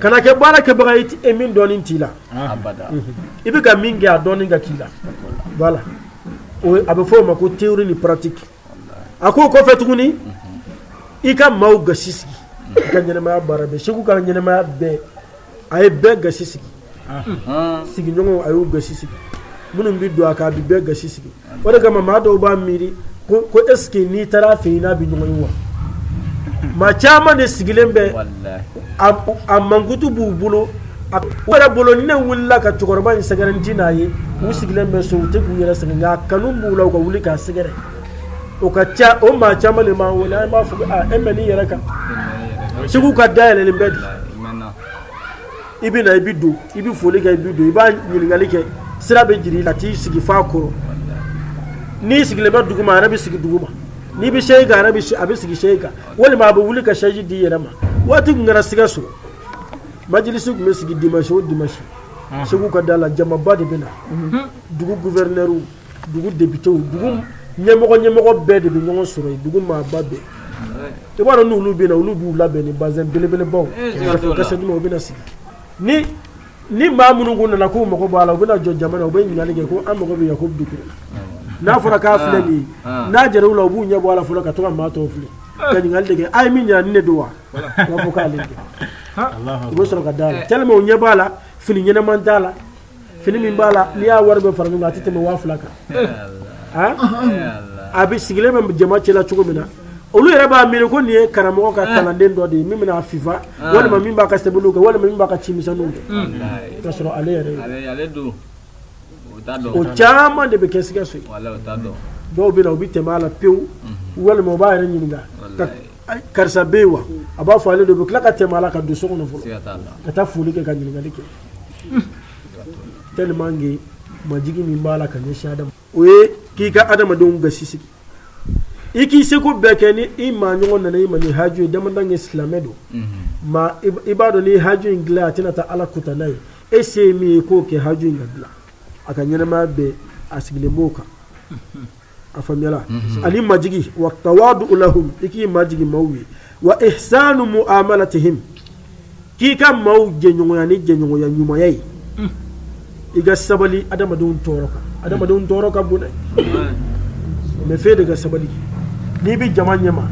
kana kɛ baara kɛbaga ye e min dɔnni t'i la i bɛ ka min kɛ a dɔnni ka k'i la voilà a bɛ fɔ o ma ko théorie ni pratique a ko o kɔfɛ tuguni i ka maaw gasi sigi i ka ɲɛnɛmaya baara bɛ seku ka ɲɛnɛmaya bɛɛ a ye bɛɛ gasi sigi sigiɲɔgɔn a y'u gasi sigi minnu bɛ don a kan a bɛ bɛɛ gasi sigi o de kama maa dɔw b'a miiri ko est-ce que n'i taara fɛ n'a bɛ ɲɔgɔn wa maa caman de sigilen bɛ a mankutu b'u bolo yɛrɛ bolo ne wulila ka cɛkɔrɔba in sɛgɛrɛ n tɛ n'a ye u sigilen bɛ so u tɛ k'u yɛrɛ sɛgɛn nka kanu b'u la u ka wuli k'a sɛgɛrɛ o ka ca o maa caman de b'an wele an b'a fɔ e bɛ n'i yɛrɛ kan seku ka da yɛlɛlen bɛ dɛ i bɛ na i bɛ don i bɛ foli kɛ i bɛ don i b'a ɲininkali kɛ sira bɛ jir'i la t'i sigi f'a kɔrɔ n'i sigilen bɛ dugu ma a yɛrɛ bɛ sigi dugu ma n'i bɛ sɛsi kan a yɛrɛ bɛ a bɛ sigi sɛsi kan walima a bɛ wuli ka sɛsi di i yɛrɛ ma waati tun kɛra sikaso majilisi tun bɛ sigi dimanche o dimanche seku ka da la jamaba de bɛ na dugu guvɛrinɛriw dugu depite dugu ɲɛmɔgɔ ɲɛmɔgɔ bɛɛ de bɛ ɲɔgɔn sɔrɔ yen dugu maaba bɛɛ i b'a dɔn n'olu bɛ na olu b'u labɛn ni bazɛn belebelebaw kɛrɛfɛkisɛ u bɛna sigi ni ni maa minnu ko nana k'u mago b'a la u bɛna jɔ jama na u bɛ ɲininkali kɛ ko an mago bɛ yan ko dugu n'a fɔra k'a filɛ nin ye n'a jɛra u la u b'u ɲɛ bɔ a la fɔlɔ ka to ka maa tɔw filɛ ka ɲininkali de kɛ a ye min ɲɛna ni ne don wa u b'a fɔ k'ale kɛ u bɛ sɔrɔ ka d'a la tellement u ɲɛ b'a la fini ɲɛnama t'a la fini min b'a la n'i y'a wari bɛɛ fara ɲɔgɔn kan a tɛ tɛmɛ waa fila kan a bɛ sigilen bɛ jama cɛla cogo min na olu yɛrɛ b'a miiri ko nin ye karamɔgɔ ka kalanden dɔ de ye min bɛn'a fifa walima min b'a ka sɛbɛnniw kɛ walima min b'a ka ci misɛnninw kɛ k'a sɔrɔ ale yɛrɛ o caman de bɛ kɛ sikaso ye dɔw bɛ na u bɛ tɛmɛ a la pewu walima u b'a yɛrɛ ɲininka karisa bɛ yen wa a b'a fɔ ale de bɛ tila ka tɛmɛ a la ka don so kɔnɔ fɔlɔ ka taa foli kɛ ka ɲininkali kɛ tellement que majigi min b'a la ka ɲɛsin adama o ye k'i ka adamadenw gasi sigi i k'i seko bɛɛ kɛ ni i maa ɲɔgɔn nana i ma ni haju ye adamaden ye silamɛ don ma i b'a dɔn ni haju in dilan a tɛna taa ala kutan na e se ye min ye k'o kɛ haju in ka dilan a ka ɲɛnamaya bɛɛ a sigilen b'o kan A faamuya ani majigi wa la i k'i majigi maaw ye wa ihsanu mu la tɛ k'i ka maaw jɛɲɔgɔnya ni jɛɲɔgɔnya ɲuman ye i ka sabali adamadenw tɔɔrɔ kan adamadenw tɔɔrɔ ka bon mɛ fɛn de ka sabali n'i bɛ jama ɲɛma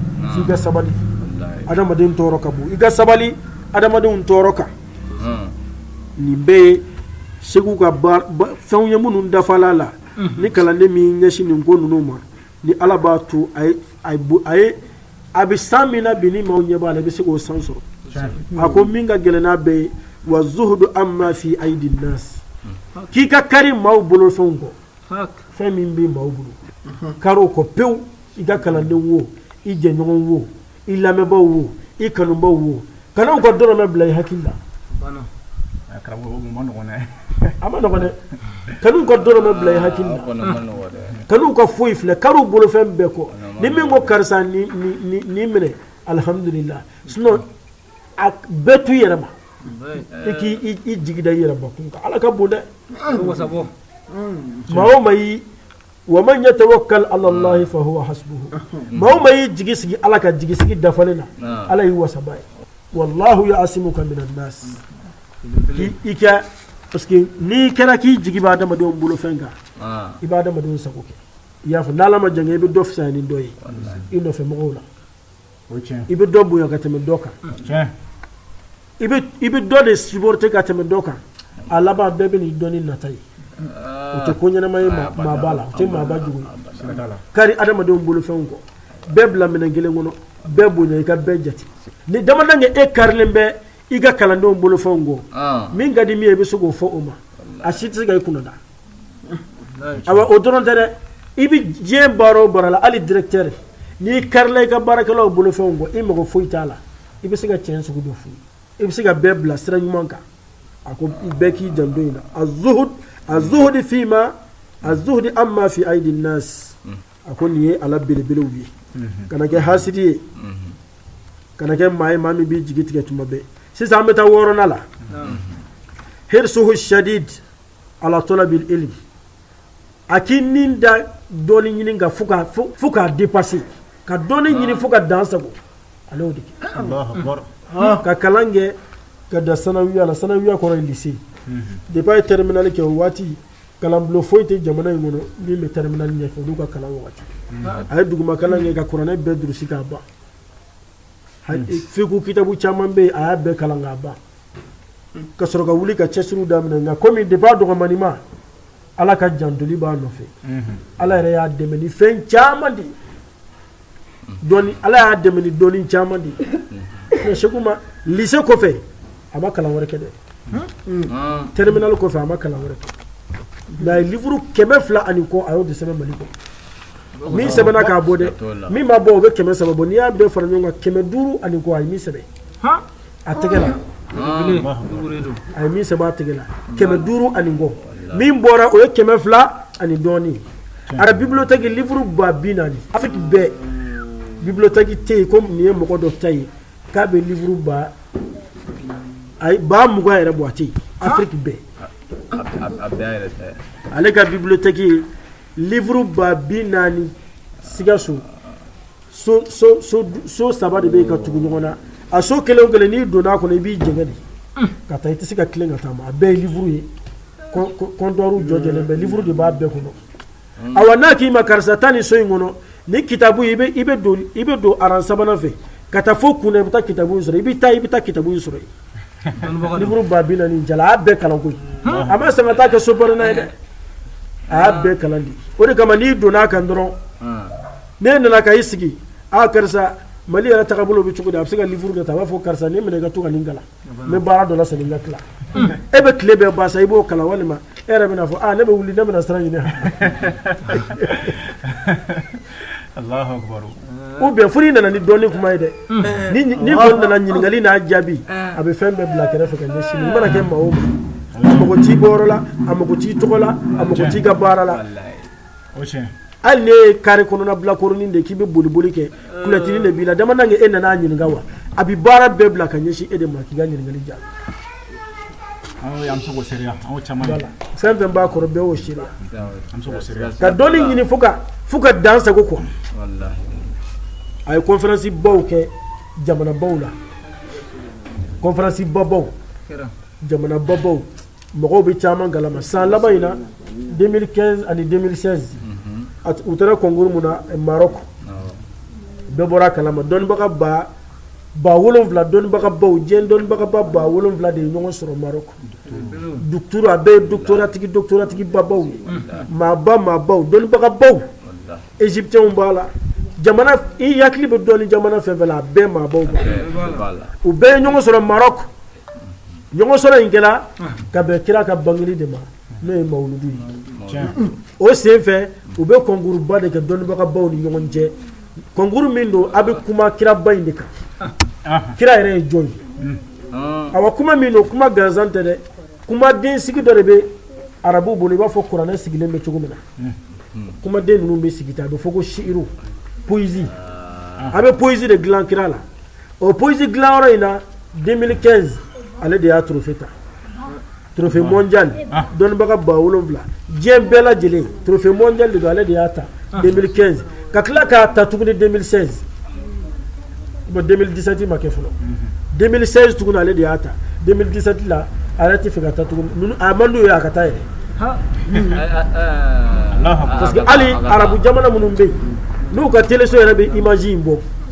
i ka sabali adamadenw tɔɔrɔ ka bon i ka sabali adamadenw tɔɔrɔ kan nin bɛɛ ye seku ka fɛnw ye minnu dafala a la ni kalanden min ɲɛsin nin ko ninnu ma ni ala b'a to a bɛ san min na bi ni maaw ɲɛ b'a la i bɛ se k'o san sɔrɔ a ko min ka gɛlɛn n'a bɛɛ ye wa zuhudu amma fi aydi nasi k'i ka kari maaw bolofɛnw kɔ fɛn min bɛ maaw bolo kari o kɔ pewu i ka kalanden wo i jɛɲɔgɔn wo i lamɛnbaw wo i kanubaw wo kan'u ka dɔrɔmɛ bila i hakili la a ma nɔgɔ dɛ kan'u ka dɔrɔmɛ bila i hakili kan'u ka foyi filɛ kari u bolofɛn bɛɛ kɔ ni min ko karisa nin minɛ alihamdulila sinon a bɛɛ to i yɛrɛ ma i k'i jigi da i yɛrɛ kun ala ka bon dɛ maa o maa Wa man yatawakal ala Allahi fa huwa hasbouhou maa o maa y'i jigi sigi Ala kan jigi sigi dafalen na, naamu, Ala y'i wasabaa ye, wa laahu ya asimouka mina naasi i ka parce que n'i kɛra k'i jigi bɛ adamadenw bolofɛn kan ah, i bɛ adamadenw sago kɛ i y'a fɔ n'Ala ma jan kɛ i bɛ dɔ fisaya ni dɔ ye i nɔfɛ mɔgɔw la i bɛ dɔ bonya ka tɛmɛ dɔ kan i bɛ dɔ de supporter ka tɛmɛ dɔ kan a laban bɛɛ b'i dɔn ni nata ye o tɛ ko ɲɛnama ye maaba la tɛ maaba jugu i kari adamadenw bolofɛnw kɔ bɛɛ bila minɛn kelen kɔnɔ bɛɛ bonya i ka bɛɛ jate ni damaden kɛ e karilen bɛ i ka kalandenw bolofɛnw kɔ min ka di min ye i bɛ se k'o fɔ o ma a si tɛ se ka i kunda o dɔrɔn tɛ dɛ i bɛ diɲɛ baara o baara la hali directeur n'i karila i ka baarakɛlaw bolofɛnw kɔ i mago foyi t'a la i bɛ se ka tiɲɛ sugu dɔ f'u ye i bɛ se ka bɛɛ bila sira ɲuman kan a ko bɛɛ k'i janto nin na azuhud azuhudi fima azuhudi amma fi aidi nas a ko nin ye ala belebelew ye kana kɛ hasidi ye kana kɛ maa ye maa min b'i jigi tigɛ tuma bɛɛ sisan an bɛ taa wɔɔrɔnan la hirsuhu shadid ala talabil ilmi a k'i min da dɔnni ɲini kan fo k'a dépasser ka dɔnni ɲini fo ka dan sagon ale de kɛ ka kalan kɛ ka dan sanawiya la sanawiya kɔrɔ lise de bac ye terminale kɛ o waati kalanbulon foyi tɛ jamana in kɔnɔ min bɛ terminale ɲɛfɛ olu ka kalan waati a ye duguma kalan kɛ ka kuranɛ bɛɛ durusi k'a ban fikihu kitabu caman bɛ a y'a bɛɛ kalan k'a ban ka sɔrɔ ka wuli ka cɛsiriw daminɛ nka komi depuis a dɔgɔmani ma ala ka jantoli b'a nɔfɛ mhm. ala yɛrɛ y'a dɛmɛ ni fɛn caman de ye ala y'a dɛmɛ ni dɔnni caman de ye mhm. sɛku ma lise kɔfɛ a ma kalan wɛrɛ kɛ dɛ terminale kɔfɛ a ma kalan wɛrɛ kɛ nk'a ye livre kɛmɛ fila ani kɔ a y'o de sɛbɛn mali kɔ min sɛbɛnna k'a bɔ dɛ min ma bɔ o bɛ kɛmɛ saba bɔ n'i y'a bɛɛ fara ɲɔgɔn kan kɛmɛ duuru ani kɔ a ye min sɛbɛn a tɛgɛ la a ye min sɛbɛn a tɛgɛ la kɛmɛ duuru ani kɔ min bɔra o ye kɛmɛ fila ani dɔɔnin a ka bibliothèque livre ba bi naani a bɛɛ bibliothèque tɛ yen ko nin ye mɔgɔ dɔ ta ye k'a bɛ livre ba ayi ba mugan yɛrɛ bɔ a tɛ yen Afrique bɛɛ ale ka bibliothèque ye livre ba bi naani Sikaso so so so so saba de bɛ yen ka tugu ɲɔgɔn na a so kelen o kelen n'i donna a kɔnɔ i b'i jɛngɛ de ka taa i tɛ se ka tilen ka taama a bɛɛ ye livre ye comptoir jɔjɔlen bɛ livre de b'a bɛɛ kɔnɔ awa n'a k'i ma karisa taa nin so in kɔnɔ ni kitabu i bɛ don rang sabanan fɛ ka taa fo kun i bɛ taa kitabu sɔrɔ i bɛ taa i bɛ taa kitabu in sɔrɔ yen ba bi naani jaa a y'a bɛɛ kalan koyi a m'a san ka taa kɛ so bɔn ye dɛ a bɛɛ kalan de o de kama n'i donna a kan dɔrɔn n'i nana ka i sigi aa karisa mali yɛrɛ taga bolo bɛ cogo di a bɛ se ka livre kɛ ta a b'a fɔ karisa nin minɛ ka to ka nin kalan ni baara dɔ seli bɛ tila e bɛ tile bɛ ba sa i b'o kala walima e yɛrɛ bɛna fɔ ne bɛ wuli ne bɛna sira ɲini ou bien furu nana ni dɔnni kuma ye dɛ n'i nana ɲininkali n'a jaabi a bɛ fɛn bɛɛ bila kɛrɛfɛ fɛ si mana kɛ maa a mako t'i bɔyɔrɔ la a mako t'i tɔgɔ la a mako t'i ka baara la hali n'e ye kari kɔnɔna bilakoronin de k'i bɛ boliboli kɛ kuti de b'i la dama kɛ e nana ɲininka wa a bɛ baara bɛɛ bila ka ɲɛsin e de ma k'i ka ɲininkali jaabi fɛn o fɛn b'a kɔrɔ bɛɛ' si ka dɔn ɲini fo fo ka dan sago kɔ a ye conférence baw kɛ jamana baw la conférence babaw jamana babaw mɔgɔw b'a caman kalama san laban in na 2015 ani 2016 u taara concours min na Maroc bɛɛ bɔra a kalama dɔnnibaga ba ba wolonwula dɔnnibagabaw diɲɛ dɔnnibagaba ba wolonwula de ye ɲɔgɔn sɔrɔ Maroc doctorat a bɛɛ ye doctoratigi doctoratigibabaw ye maaba maabaw dɔnnibagabaw Egyptiens b'a la jamana i hakili bɛ dɔnni jamana fɛn o fɛn na a bɛɛ maabaw b'a la u bɛɛ ye ɲɔgɔn sɔrɔ Maroc ɲɔgɔn sɔrɔ in kɛra ka bɛn kira ka bangeli de ma n'o ye mawuludu ye o senfɛ u bɛ kɔnkuruba de kɛ dɔnnibagabaw ni ɲɔgɔn cɛ kɔnkuru min don a bɛ kuma kiraba in de kan kira yɛrɛ ye jɔn ye a kuma min don kuma gansan tɛ dɛ kumaden sigi dɔ de bɛ arabu bolo i b'a fɔ kuranɛ sigilen bɛ cogo min na kumaden ninnu bɛ sigi tan a bɛ fɔ ko siru poésie a bɛ poésie de dilan kira la o poésie dilanyɔrɔ in na 2015 ale de y'a trophée ta trophée mondial dɔnnibaga ba wolonwula diɲɛ bɛɛ lajɛlen trophée mondial don ale de y'a ta 2015 ka tila k'a ta tuguni 2016 2017 ma kɛ fɔlɔ 2016 tugun ale de y'a ta 2017 la a yɛrɛ t'a fɛ ka taa tugun a man ye a ka taa yɛrɛ parce que hali arabu jamana minnu bɛ yen n'u ka teleso yɛrɛ bɛ image in bɔ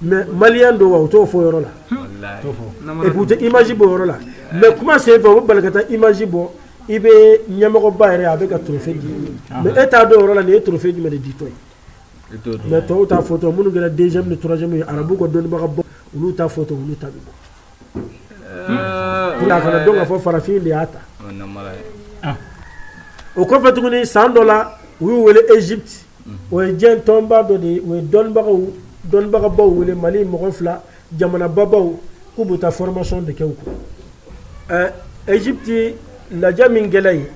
mais Malien don wa u t'o fɔ yɔrɔ la u image bɔ yɔrɔ la mais kuma senfɛ u bɛ bari ka image bɔ i bɛ ɲɛmɔgɔba yɛrɛ a bɛ ka trophée minɛ e t'a dɔn yɔrɔ la nin ye trophée jumɛn de ditɔ mais tɔw ta fɔ minnu kɛra deuxième ni troisième ye arabu ka dɔnnibaga bɔ olu ta fɔ olu ta bɔ don ka fɔ farafin de y'a ta o kɔfɛ tuguni san dɔ la u y'u wele Égypte o ye diɲɛ tɔnba dɔ de ye o ye dɔnnibagaw dɔnnibagabaw wele mali mɔgɔ fila jamanabagaw k'u bɛ taa formation de kɛ u kun ɛ Égypte lajɛ min kɛlen ye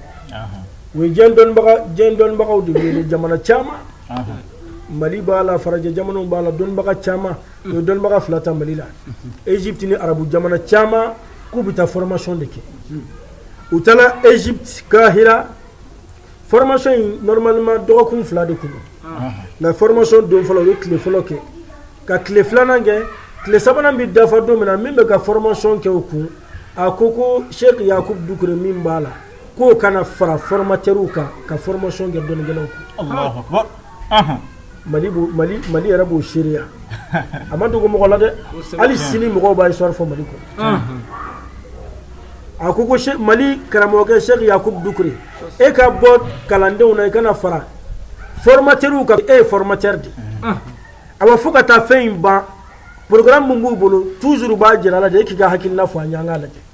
u ye dɔnnibagaw de wele jamana caman mali b'a la farajɛ jamana b'a la dɔnnibaga caman u ye dɔnnibaga fila ta mali la Égypte ni arabu jamana caman k'u bɛ taa formation de kɛ u taara Égypte ka jira Formation in normalement dɔgɔkun fila de tun mɛ formation don fɔlɔ u ye tile fɔlɔ kɛ ka tile filanan kɛ tile sabanan bɛ dafa don min na min bɛ ka formation kɛ u kun a ko ko seku yakubu dukure min b'a la k'o ka na fara formateurw kan ka formation kɛ dɔnnikɛlaw kun mali mali yɛrɛ b'o seereya a ma dogo mɔgɔ la dɛ hali sini mɔgɔw b'a sɔrɔri fɔ mali kɔnɔ a ko ko mali karamɔgɔkɛ seku yakubu dukure e ka bɔ kalandenw na i ka na fara formateurw kan e ye formateur de a bɛ fo ka taa fɛn in ban programme min b'u bolo toujours u b'a jira i la de e k'i ka hakilila fɔ a ɲɔgɔn lajɛ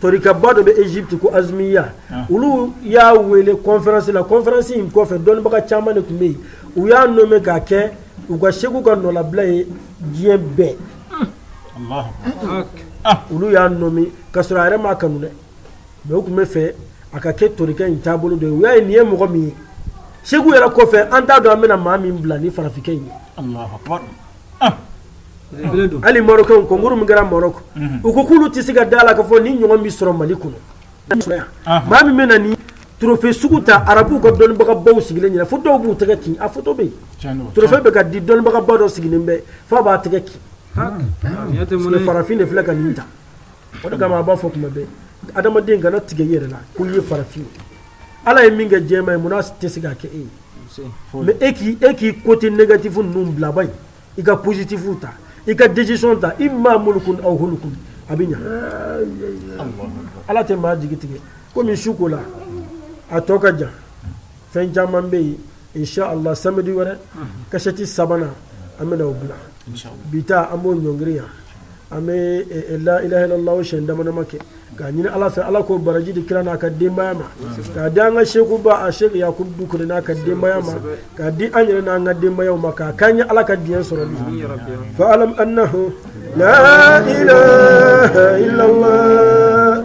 Tarikaba dɔ bɛ Égypte ko azmiya olu y'a wele conférence la conférence in kɔfɛ dɔnnibaga caman de tun bɛ yen u y'a nommer k'a kɛ u ka seku ka nɔbila ye diɲɛ bɛɛ olu y'a nommer ka sɔrɔ a yɛrɛ ma kanu dɛ mɛ u tun b'a fɛ a ka kɛ tarika in taabolo don u y'a ye nin ye mɔgɔ min ye seku yɛrɛ kɔfɛ an t'a dɔn an bɛna maa min bila ni farafinfin ye hali marɔkɛnw kɔnkuru min kɛra marɔku u ko k'olu tɛ se ka da a la ka fɔ nin ɲɔgɔn bɛ sɔrɔ mali kɔnɔ maa min bɛ na nin trophée sugu ta arabuw ka dɔnnibagabaw sigilen ɲɛna fo dɔw b'u tɛgɛ kin a fɔtɔ bɛ yen trophée bɛ ka di dɔnnibagaba dɔ sigilen bɛ fo a b'a tɛgɛ kin farafin de filɛ ka nin ta o kama a b'a fɔ kuma bɛ adamaden kana tigɛ a yɛrɛ la ko ye farafin ala ye min kɛ jɛma ye munna a tɛ se ka kɛ e ye mɛ e k' e k'i côté négatif ninnu bilaba ye i ka positifu ta i ka decision ta imma mulukun aw hulukun a bɛ ɲa ala tɛ maa jigi tigɛ komi su ko la a tɔ ka jan fɛn caman bɛ yen inshallah samedi wɛrɛ kasɛti sabanan an bɛna o bila bi ta an b'o ɲɔngiri yan an bɛ la ilaha illallah siɲɛ damadama kɛ an k'a ɲini ala fɛ ala k'o baraji di kira n'a ka denbaya ma k'a di an ka sekuba a seku yakubu dukure n'a ka denbaya ma k'a di an yɛrɛ n'an ka denbayaw ma k'a k'an ye ala ka diɲɛ sɔrɔ bi fa alam annahu la ilaha illallah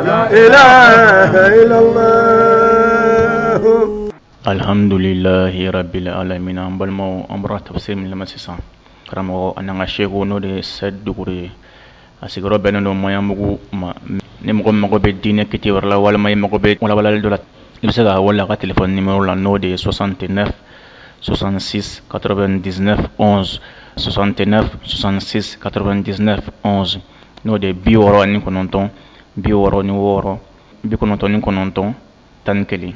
Alihamdulilalahirabilalamina an balima an bɔra ta se min sisan karamɔgɔ ani ka seko n'o de se duuru ye a sigiyɔrɔ bɛnnen dɔ mayabugu ma ni mɔgɔ mago bɛ diinɛ kiti yɔrɔ la walima ye mago bɛ kɔnɔbali dɔ la i bɛ se ka wala ka tile ni la n'o de ye sɔsante ne sɔsansi kato bɛ ds sɔsantena sɔsansi kato bɛ ds n'o de bi wɔɔrɔ ni kɔnɔntɔn bi wɔɔrɔ ni wɔɔrɔ bi kɔnɔntɔn ni kɔnɔntɔn tan ni kelen